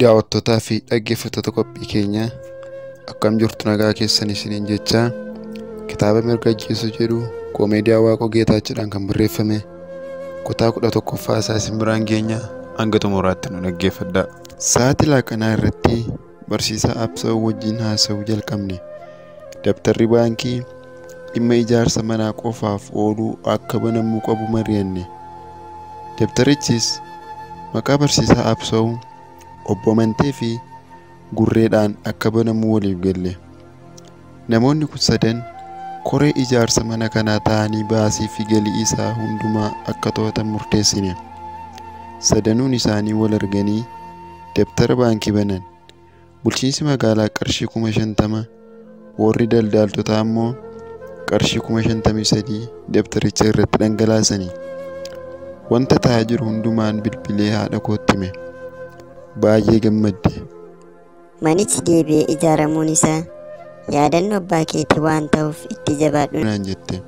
daawwattootaa fi dhaggeeffattoota qophii keenyaa akkam jirtu nagaa keessan isiniin jechaa kitaaba mirga ajjeesuu jedhu koomeediyaa waaqoo geetaachiidhaan kan barreeffame kutaa kudha tokkoffaa isaa isin biraan geenya hanga xumuraatti nu dhaggeeffadhaa. Sa'aatii laaqanaa irratti Barsiisaa Absaw wajjin haasa'uu jalqabne. Dabtarri baankii dhimma ijaarsa manaa qofaaf oolu akka banamuu qabu mari'anne. Dabtarichis maqaa barsiisaa Absaw, obbo Amantee fi Gurreedhaan akka banamu waliif galle. Namoonni kun sadan koree ijaarsa mana kanaa ta'anii baasii fi galii isaa hundumaa akka to'atan murteessine. Sadanuun isaanii wal arganii dabtara baankii banan. Bulchiinsi magaalaa qarshii kuma shantama, warri daldaaltotaa immoo qarshii kuma shantamii sadii dabtaricha irratti dhangalaasani. Wanta ta'aa jiru hundumaan bilbilee haadha kootti hime. Baay'ee gammadde. Manichi deebi'ee ijaaramuun isaa yaadannoo abbaa keetii waan ta'uuf itti jabaadhu. naan jette.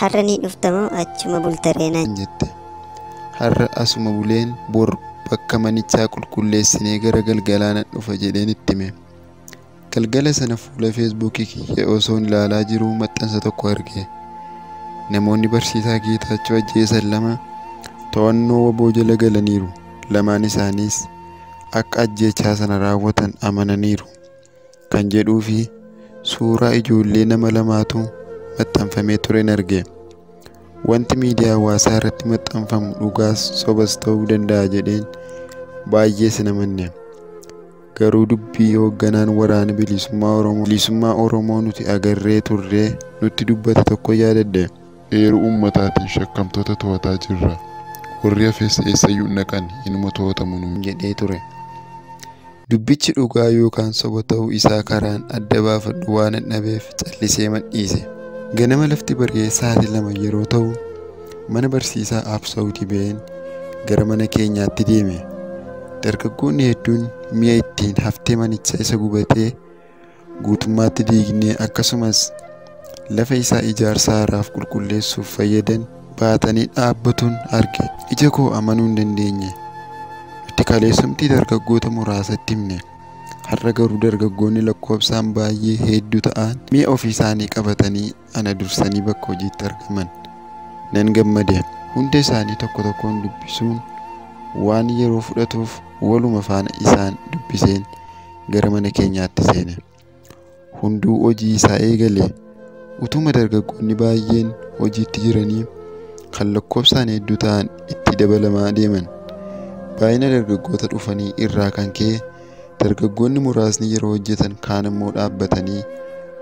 Har'a ni dhufta moo achuma bulta ree naan naan jette. Har'a asuma buleen bor bakka manichaa qulqulleessinee gara galgalaa nan dhufa jedheen itti hime. Galgala sana fuula feesbuukii kiyya osoon ilaalaa jiruu maxxansa tokko arge. Namoonni barsiisaa Geetaachoo ajjeesan lama to'annoo waboo jala galaniiru. Lamaan isaaniis akka ajjeechaa sana raawwatan amananiiru kan jedhuu fi suuraa ijoollee nama lamaatu maxxanfamee turen arge. Wanti miidiyaa hawaasaa irratti maxxanfamu dhugaas sobas ta'uu danda'a jedheen baay'ee sin amanne. Garuu dubbii hoogganaan waraana bilisummaa Oromoo bilisummaa Oromoo nuti agarree turree nutti dubbate tokko yaadadhe. Eeruu uummataatiin shakkamtoota to'ataa jirra. Warri hafes eessayyuu hin dhaqan, inuma to'atamu nuun jedhee ture. Dubbichi dhugaa yookaan soba ta'uu isaa karaan adda baafadhu waanan dhabeef calliseeman dhiise. Ganama lafti bari'ee sa'aatii lama yeroo ta'u mana barsiisaa Absawuti ba'een gara mana keenyaatti deeme. Dargaggoonni hedduun mi'a ittiin haftee manichaa isa gubatee guutummaatti diignee akkasumas lafa isaa ijaarsa haaraaf qulqulleessuuf fayyadan baatanii dhaabbatuun arge ija koo amanuu hin dandeenye itti kaleessumtii dargaggoota muraasatti himne har'a garuu dargaggoonni lakkoofsaan baay'ee hedduu ta'an mi'a ofii isaanii qabatanii ana dursanii bakka hojiitti argaman nan gammade. Hunda isaanii tokko tokkoon dubbisuun waan yeroo fudhatuuf waluma faana isaan dubbiseen gara mana keenyaatti seene. Hunduu hojii isaa eegale. Utuma dargaggoonni baay'een hojiitti jiranii kan lakkoofsaan hedduu ta'an itti dabalamaa deeman. Baay'ina dargaggoota dhufanii irraa kan ka'e Dargaggoonni muraasni yeroo hojjetan kaan immoo dhaabbatanii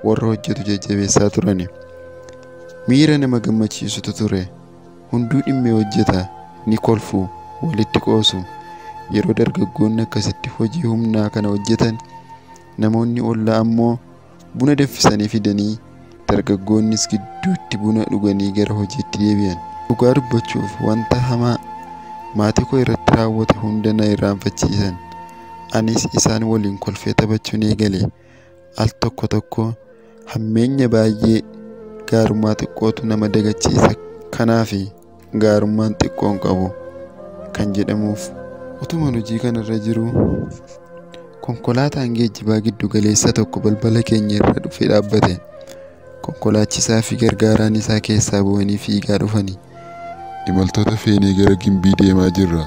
warra hojjetu jajjabeessaa turani. Miira nama gammachiisutu ture. Hunduu dhimmee hojjeta, ni kolfu, walitti qoosu. Yeroo dargaggoonni akkasitti hojii humnaa kana hojjetan namoonni ollaa ammoo Buna danfisanii fidanii dargaggoonnis gidduutti buna dhuganii gara hojiitti deebi'an. Dhugaa dubbachuuf wanta hamaa maatii koo irratti raawwate hunda na irraanfachiisan. Anis isaan waliin kolfee taphachuun eegale. Al tokko tokko hammeenya baay'ee gaarummaa xiqqootu nama dagachiisa. Kanaafi. gaarummaan xiqqoon qabu kan jedhamuuf utuman hojii kanarra jiru konkolaataan geejjibaa giddu galeessa tokko balbala keenya irra dhufee dhaabbate konkolaachisaa fi gargaaraan isaa keessaa bu'anii fiigaa dhufanii imaltoota feenee gara gimbii deemaa jirra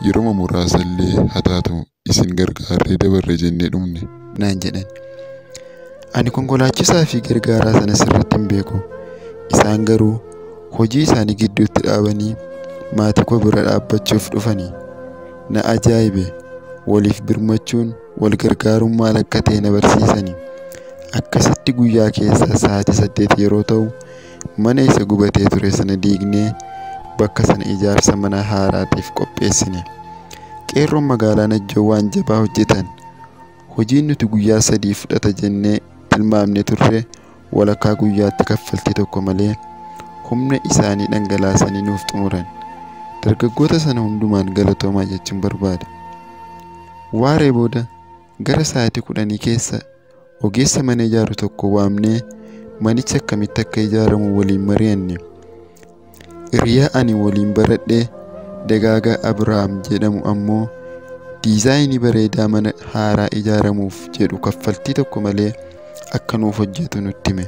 yeroma muraasa illee haa taatu isin gargaarree dabarre jennee dhumne. naan jedhan. Ani konkolaachisaa fi gargaaraa sana sirriitti hin beeku. Isaan garuu hojii isaanii gidduutti dhaabanii maatii koo bira dhaabbachuuf dhufani. Na ajaa'ibe. Waliif birmachuun, wal gargaaruun maal akka ta'e na barsiisani. Akkasitti guyyaa keessaa sa'aatii saddeet yeroo ta'u, Mana isa gubatee ture sana diignee bakka sana ijaarsa mana haaraatiif qopheessine. Qeerroon magaalaa Najjoo waan jabaa hojjetan. Hojiin nuti guyyaa sadii fudhata jennee tilmaamne turre walakkaa guyyaatti kaffaltii tokko malee humna isaanii dhangalaasanii nuuf xumuran. Dargaggoota sana hundumaan galatoomaa jechuun barbaada. Waaree booda gara sa'aatii kudhanii keessa Ogeessa mana ijaaru tokko waamnee manichi akkamitti akka ijaaramu waliin mari'anne. Hiriyaa ani waliin baradhe Dagaagaa Abrahaam jedhamu ammoo diizaayinii bareedaa mana haaraa ijaaramuuf jedhu kaffaltii tokko malee akka nuuf hojjetu nutti hime.